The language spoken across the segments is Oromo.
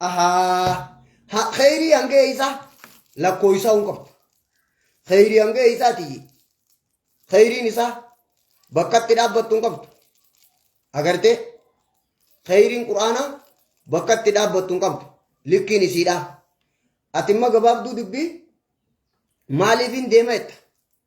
Ahaa. Ha kheyrii hanga eeysaa lakkooysaa hin qabdu. Kheyrii hanga eeysaa tiyyi. Kheyriin isaa bakkatti dhaabbattu hin qabdu. Agartee? Kheyriin quraanaa bakkatti dhaabbattu hin qabdu. Likkiin isiidhaa. Ati immoo gabaabduu dubbii maaliif hin deema jetta?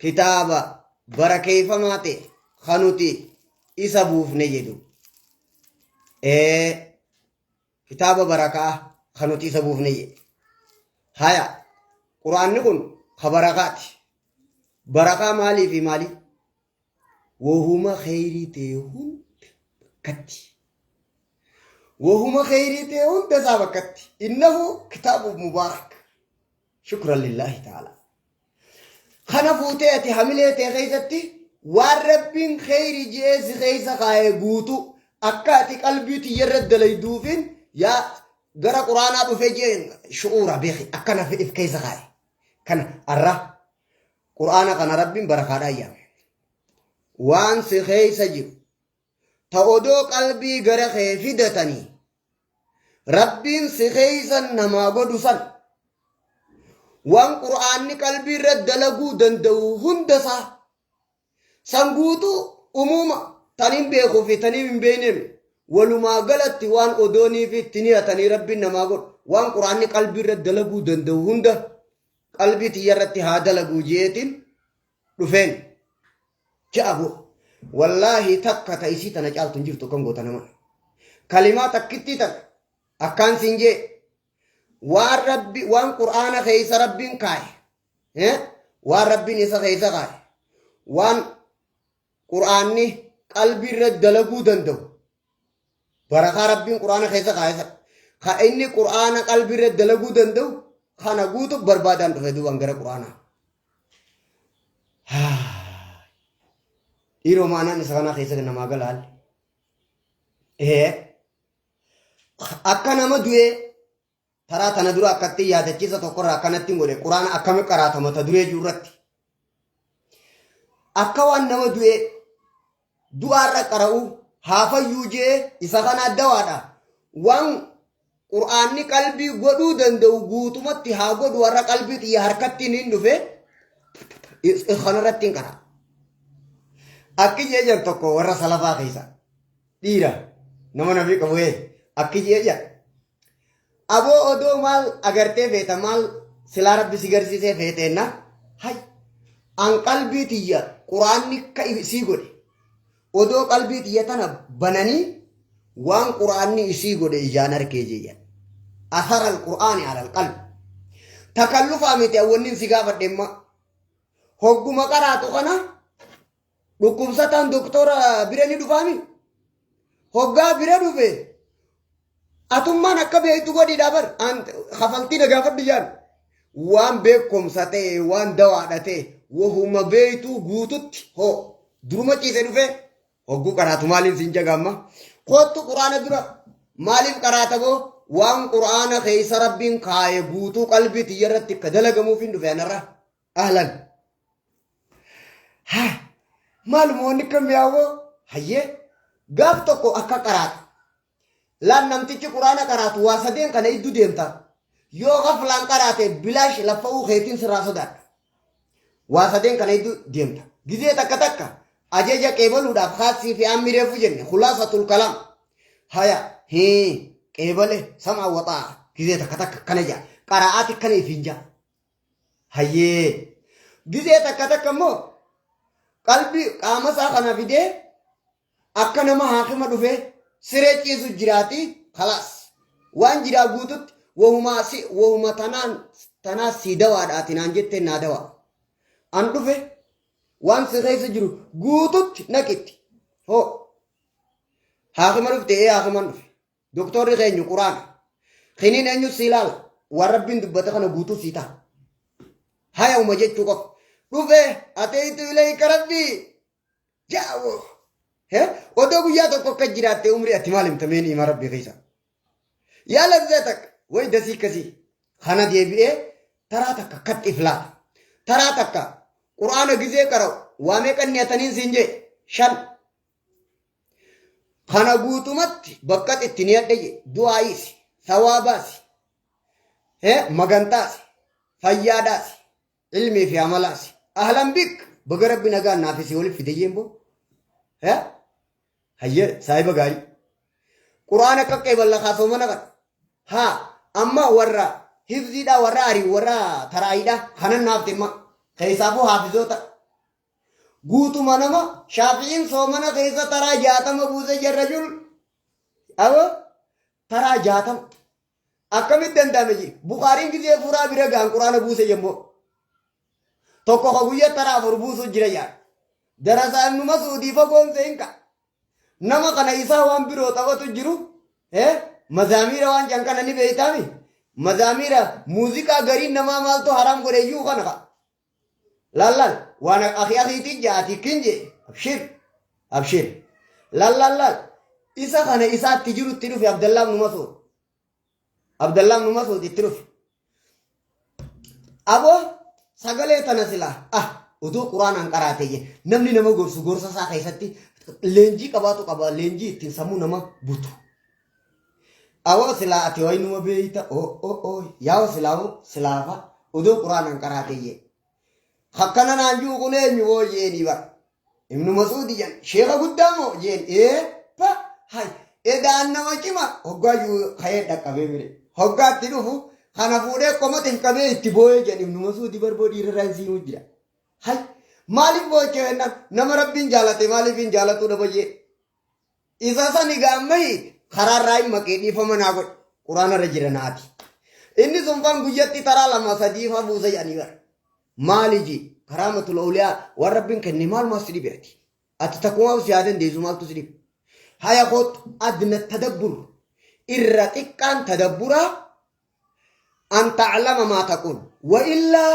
kitaaba barakeeffamaa ta'e kan nuti isa buufne jedhu kitaaba barakaa kan nuti isa buufne jedhu haya quraanni kun ka barakaati barakaa maalii fi maalii wahuma kheyrii ta'e hunda bakkatti wahuma kheyrii ta'e hunda isaa bakkatti innahu kitaabu mubaarak shukran lillaahi ta'aalaa Kana fuutee ati hamilee tee keessatti waan rabbiin kheyri ji'ee si keessa kaa'e guutu akka ati qalbii tiyyarra dalayduufin yaa gara quraanaa dhufe jeen shu'uura beeki akkana if keessa kaa'e. Kana arra quraana kana rabbiin barakaadhaa yaame. Waan si keessa jiru ta odoo qalbii gara kee fidatanii rabbiin si keeysan namaa godhu san waan qur'aanni qalbii irra dalaguu danda'u hunda isaa san guutuu umuuma tan hin beekuu fi tan hin beekneem walumaa galatti waan odoonii fi itti niyatanii rabbiin namaa godhu waan qur'aanni qalbii irra dalaguu danda'u hunda qalbii tiyya irratti haa dalaguu jeetiin dhufeen ja'a go wallaahi takka ta isii tana caaltu hin jirtu akkan goota nama kalimaa takkittii tana akkaan siin jee waan rabbi waan qur'aana keessa rabbiin kaaye eh? waan rabbiin isa keessa kaaye waan qur'aanni qalbii irra dalaguu danda'u barakaa rabbiin quraana keessa kaa'e sana ka inni quraana qalbii irra dalaguu danda'u kana guutu barbaadaan dhufe duubaan gara quraanaa. Dhiiroo maanaan isa kanaa keessa namaa gala haalli. Ee akka nama du'ee Taraa tana dura akkattiin yaadachiisa tokkorraa akkanattiin godhe quraana akkami qaraata mata duree jiru irratti. Akka waan nama du'ee du'aarra qara'u haafayyuu jee isa kana addawaadha. Waan quraanni qalbii godhuu danda'u guutumatti haa godhu warra qalbii xiyya harkattiin hin dhufe kanarrattiin qara. Akki jee jedhu tokko warra salafaa keessa dhiira nama nafi qabu akki jee jedhu. Aboo odoo maal agartee feeta maal silaa rabbi si garsiisee feeteenna hay an qalbii tiyya quraanni ka isii godhe odoo qalbii tiyya tana bananii waan quraanni isii godhe ijaan arkee jeeyyan asara alqur'aani ala alqalbi takallufaa miti awwannin si gaafadhemma hogguma qaraatu kana Dhukkubsataan doktora bira ni dhufaami. Hoggaa bira dhufe atummaan akka beektu godhiidhaa bar kafaltii na gaafadhu jaan. Waan beekumsa ta'e waan dawaadha ta'e wahuma beektuu guututti hoo duruma ciise dhufe hogguu qaraatu maaliin siin jagaamma. Koottu quraana dura maaliif qaraata boo waan quraana keessa rabbiin kaaye guutuu qalbii tiyya irratti akka dalagamuuf hin dhufe anarraa. Ahlan. Haa maaluma wanni akka mi'aawoo hayyee gaaf tokko akka qaraata. Laan namtichi quraana qaraatu waa sadeen kana iddu deemta. Yoo gaflaan qaraate bilaash laffa'uu keetiin sirraa sodaadha. Waa sadeen kana iddu deemta. Gizee takka takka ajaja qeebaluudhaaf kaassii fi ammi reefu jenne khulaasatul kalaam. Haya hii qeebale sam'a waxaa gizee takka takka akkana jaa qaraa'aati akkana ifiin jaa. hayyee gizee takka takka immoo qalbii qaama isaa kana fidee akka nama haakima dhufee siree ciisu jiraati kalaas waan jiraa guututti wahumaa si wahuma tanaan tanaa sii dawaadha ati naan jettee naa dawaa an dhufe waan si keessa jiru guututti naqitti hoo haakima dhufte ee haakiman dhufe Doktorri keenyu quraana. Kiniin eenyus si ilaala. Waan rabbiin dubbate kana guutuu sii ta'a. Haya uma jechuu qofa. Dhufee ateetu ilayka rabbii. Jaawoo. He? Odoo guyyaa tokko akka jiraatte umrii ati maal himta mee ni'ima rabbii keessa. Yaa lazzaa takka way dasii kasii. Kana deebi'ee taraa takka akkatti iflaata. Taraa takka quraana gizee qara'u waa meeqan niyataniin siin jee shan. Kana guutumatti bakkatti itti ni adda jedhe du'aayiisi, sawaabaasi, magantaasi, fayyaadaasi, ilmii fi amalaasi. Ahlan bik baga rabbi nagaan naaf isii waliif fide jeen boo. Hayyee saahiba gaarii. Quraan akka qeeballa kaasoo mana qaba. Haa amma warra hifziidhaa warra arii warra taraayiidhaa kanan naaf dhimma. Keessaafuu haafizoota Guutuma nama shaafi'iin soomana keessa taraa jaatama buuse jarra jul awo taraa jaatama akkamit danda'ame je bukaariin gizee furaa bira gaan quraana buuse jemmoo tokko ka guyya taraa afur buusuu jira jaan darasaa ibnu masuudii fagoon seenka nama kana isaa waan biroo taphatu jiru eh mazaamiira waan jan kana ni beeytaami mazaamiira muuziqaa gariin namaa maaltu haraam godheyyuu kana ka lallal waan akhi akhiitii jaati kin jee abshir abshir lallallal isa kana isaatti jirutti dhufe abdallaa ibnu masuud abdallaa ibnu masuud itti dhufe aboo sagalee tana silaa ah utuu quraanaan qaraatee jee namni nama gorsu gorsa isaa keessatti leenjii qabaatu qaba leenjii ittiin sammuu nama butu Awoo silaa ati waynuma beeyta oo oo oo yaa wasilaawoo silaafa odoo quraanan qaraateyyee. Hakkana naan ji'u kun eenyu woo jeeni bar. Ibnu Masuudi jan sheeka guddaa moo jeen ee pa hay edaan nama cima hoggaa ji'u ka'ee dhaqqabee mire. Hoggaa itti dhufu kana fuudhee qomata hin qabee itti booyee jan Ibnu Masuudi bar boo dhiirarraa hin siimuu jira. Hay maaliif boochee jennaan nama rabbiin jaalate maaliif hin jaalatuu dhaba jee. Isa sani gaammahi karaa raayim maqee dhiifama naa godhe quraana irra jira naati. Inni sun fan guyyatti taraa lama sadii fa buusa jedhanii bara. Maali ji karaa matula oliyaa waan rabbiin kenne maalumaa si dhibe ati. Ati takkumaa si haa dandeessu maaltu si dhibe. Haya kootu adna tadabbur irra xiqqaan tadabburaa an ta'lama maa taquun wa illaa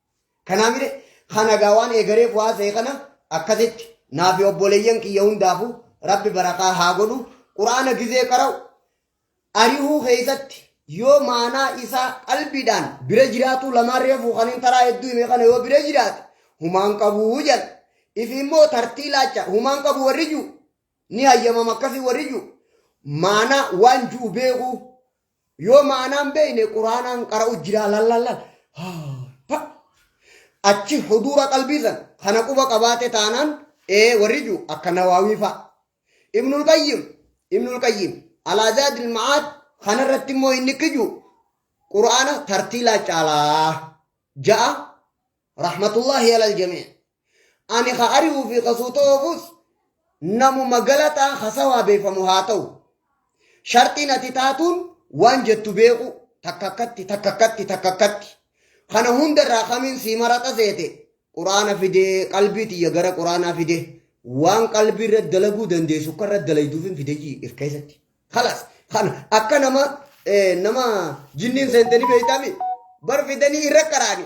Kanaa mire kana gaa waan eegareef waa ta'e kana akkasitti naa fi obboleeyyan kiyya hundaafu rabbi barakaa haa godhu quraana gizee qara'u arihuu keessatti yoo maanaa isaa qalbiidhaan bira jiraatuu lamaan reefuu kan hin taraa hedduu hime kana yoo bira jiraate humaan qabuu jedha ifi immoo tartii laacha humaan qabu warri jiru ni hayyamama akkasii warri jiru maanaa waan jiru beekuu Yoo ma'anaan beeyne quraanaan qara'u jira lallallal. Achi huduura qalbii san kana quba qabaate taanaan ee warri jiru akka nawaawii fa'a. Ibnul Qayyim Ibnul Qayyim Alaazaadil Ma'aad kanarratti immoo inni kiju quraana tartiilaa caalaa ja'a rahmatullaahi alal jamii. Ani ha ari'uu fi ha suuta oofus namuma galataa hasawaa beekamu haa ta'u. Sharxiin ati taatuun waan jettu beeku takka akkatti takka akkatti takka akkatti. Kana hundarraa kamiin sii maraxa seete quraana fidee qalbii tiyya gara quraanaa fide waan qalbii irra dalaguu dandeessu akka irra dalayduufin fidee irkeessatti. Kalas kana akka nama nama jinniin seentanii beeytaami bar fidanii irra qaraani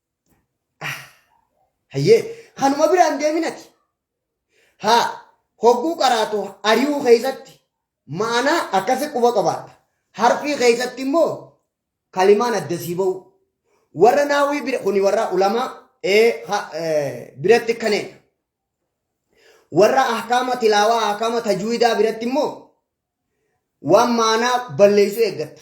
Hayyee kanuma biraan deeminati. Haa hogguu qaraatu ari'uu keessatti ma'anaa akkasi quba qabaadha. Harfii keessatti immoo kalimaan adda sii ba'u. Warra naawwii bira kuni warra ulamaa ee ha- ee, biratti kaneedha. Warra ahkaama tilaawaa ahkaama tajwiidaa biratti immoo waan ma'anaa balleessuu eeggatta.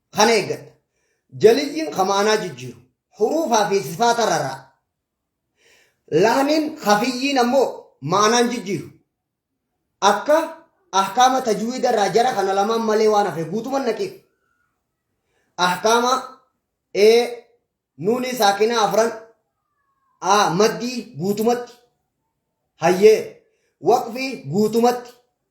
Kana eeggadha. Jaliyyiin ka maanaa jijjiiru. Huruufaa fi sifaata raraa. Lahniin hafiyyiin ammoo maanaan jijjiiru. Akka ahkaama tajwiida irraa jara kana lamaan malee waan hafe guutuman naqiif. Ahkaama A nuunii saakinaa afran A maddii guutumatti. Hayyee waqfii guutumatti.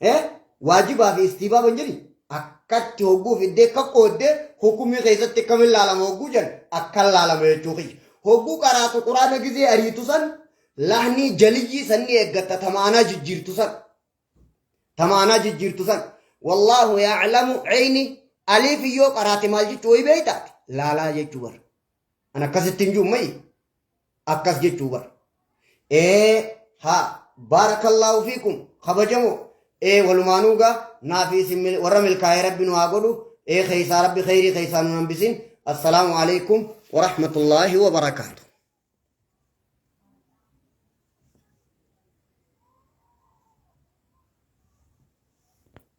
Eh, waajibaa fi istiibaaba hin jedhi. Akkatti hogguu fiddee akka qooddee hukumii keessatti akkamiin laalama hogguu jedhan akkan laalama jechuu kiyya. Hogguu qaraatu quraana gizee ariitu san lahnii jaliyyii sanni eeggatta tamaanaa jijjiirtu san. Tamaanaa jijjiirtu san. Wallaahu yaaclamu ceyni aliif yoo qaraate maal jechuu wayi beeytaati. Laalaa jechuu bara. An akkasitti hin jiru mayi. akkas jechuu bar ee ha baarakallaahu fiikum kabajamo ee walumaanuu gaa naa fi isin mil- warra milkaa'ee rabbi nu haa godhu ee keeysaa rabbi keeyrii keeysaa nu hambisin assalaamu alaikum warahmatullaahi wabarakaatu